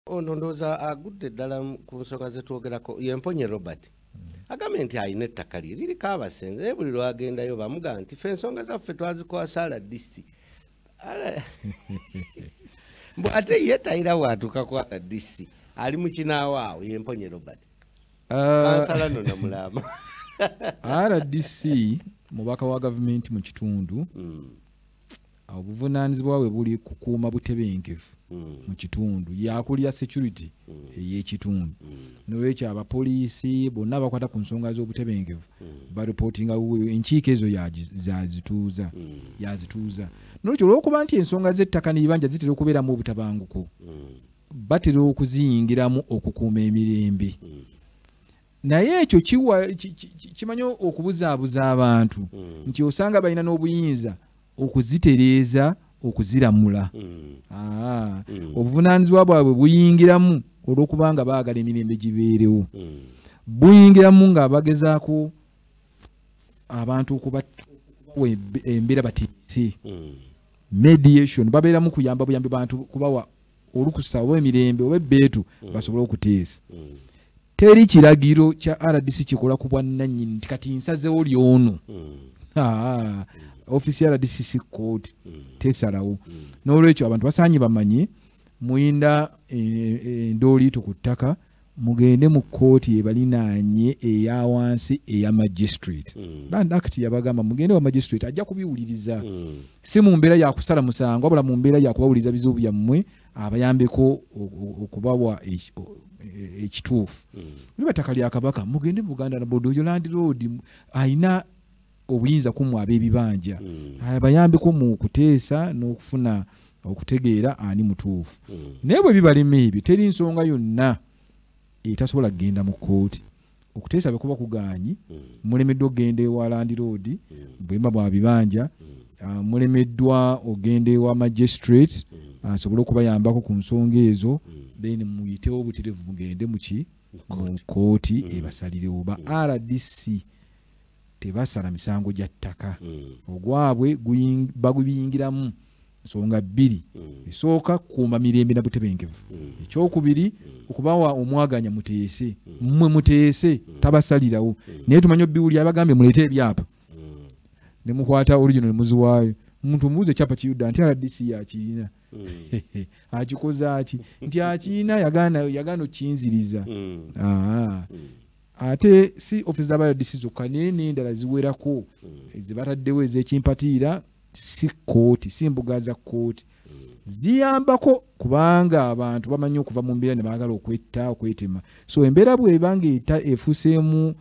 ono ndowooza agudde ddala ku nsonga zetwogerako yemponye robert hmm. agambye nti alina ettaka lye liriko abasenze naye buli lwagendayo bamuga nti fe ensonga zaffe twazikoasa rdc mbu ate ye tayira watuuka ku rdc ali mukinaawo awo yemponye robert ah. kansala no namulaama rdc mubaka wa gavumenti mu kitundu hmm. obuvunaanyizibwa bwe buli kukuuma butebenkevu mm. mu kitundu yakulira security mm. ey'ekitundu mm. nolwekyo abapoliisi bonna abakwata ku nsonga z'obutebenkevu baripootinga enkiiko ezo yazituuza yazituuza nolwekyo olwokuba nti ensonga z'ettaka n'ebibanja zitera okubeeramu obutabanguko batera okuziyingiramu okukuuma emirembe naye ekyo kimanyi okubuzaabuza abantu hmm. nti osanga balina n'obuyinza okuzitereeza okuziramula hmm. Ah. Hmm. obuvunaanyizibwa bwabwe buyingiramu olw'okubanga baagala emirembe gibeerewo buyingiramu nga bagezaako abantu okubawa embeera batiise mediation babeeramu kuyamba buyambi bantu kubawa olukusa oba emirembe oba ebbeetu basobole okuteesa teri kiragiro kya rdc kikola ku bwannanyini nti kati nsazewo lyono hmm. ah, ofisi ya rdc si kooti hmm. tesalawo hmm. n'olwekyo abantu basaanye bamanye muyinda eh, eh, endooliito ku ttaka mugende mu kooti ebalinaanye eya wansi eya magistrate band act yabagamba mugende wa magistrate ajja kubiwuliriza si mu mbeera yakusala musango wabula mu mbeera yakubawuliriza bizibu byammwe abayambeko okubawa e, ekituufu niba ttaka lya kabaka mugende buganda nabodo oyo landiroodi alina obuyinza kumwe ab'ebibanja hmm. abayambeko mu kuteesa n'okufuna okutegeera ani mutuufu hmm. naye bwe bibalema ebyo teri nsonga yonna etasobola kugenda mu kkooti okuteesa bwe kuba kugaanyi mm. mulemeddwa okugenda ewa landiroodi mm. bwemba bwa bibanja mm. ah, mulemeddwa okugenda ewa magistrate asobole okubayambako ku nsonga ezo then muyitewo obuterevu mugende muki mu kooti ebasalirewo ba rdc tebasala misango gya ttaka mm. ogwabwe bagubiyingiramu nsonga bbiri mm. esooka kukuuma mirembe na butebenkevu mm. ekyokubiri okubawa omwaganya muteese mmwe muteese tabasalirawo naye tumanye obiwuli abagambye muleete ebyapa ne mukwata original muziwaayo omuntu omubuuza ekyapa kiyudda nti rdc yakirina akikoze aki nti akirina yagaana okinziriza ate si office za rdc zokka naye n'endala ziwerako hmm. zebataddewo ez'ekimpatiira si kkooti si mbuga za kkooti hmm. ziyambako kubanga abantu bamanyi okuva mu mbeera ne baagala okwetta okwetema so embeera bwebanga eta efuseemu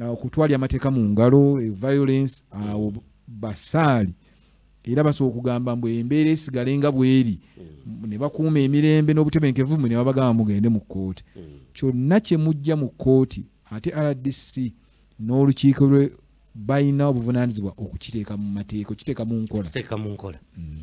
uh, okutwalya amateeka mu ngalo e violence awo basaali era basobola okugamba mbu embeera esigale nga bweri mm. ne bakuuma emirembe n'obutebenkevu mwe ne babagamba mugende mu kkooti mm. kyonna kye mujja mu kkooti ate rdc n'olukiiko lwe balina obuvunaanyizibwa okukiteeka mu mateeka okiteeka mu nkola mm.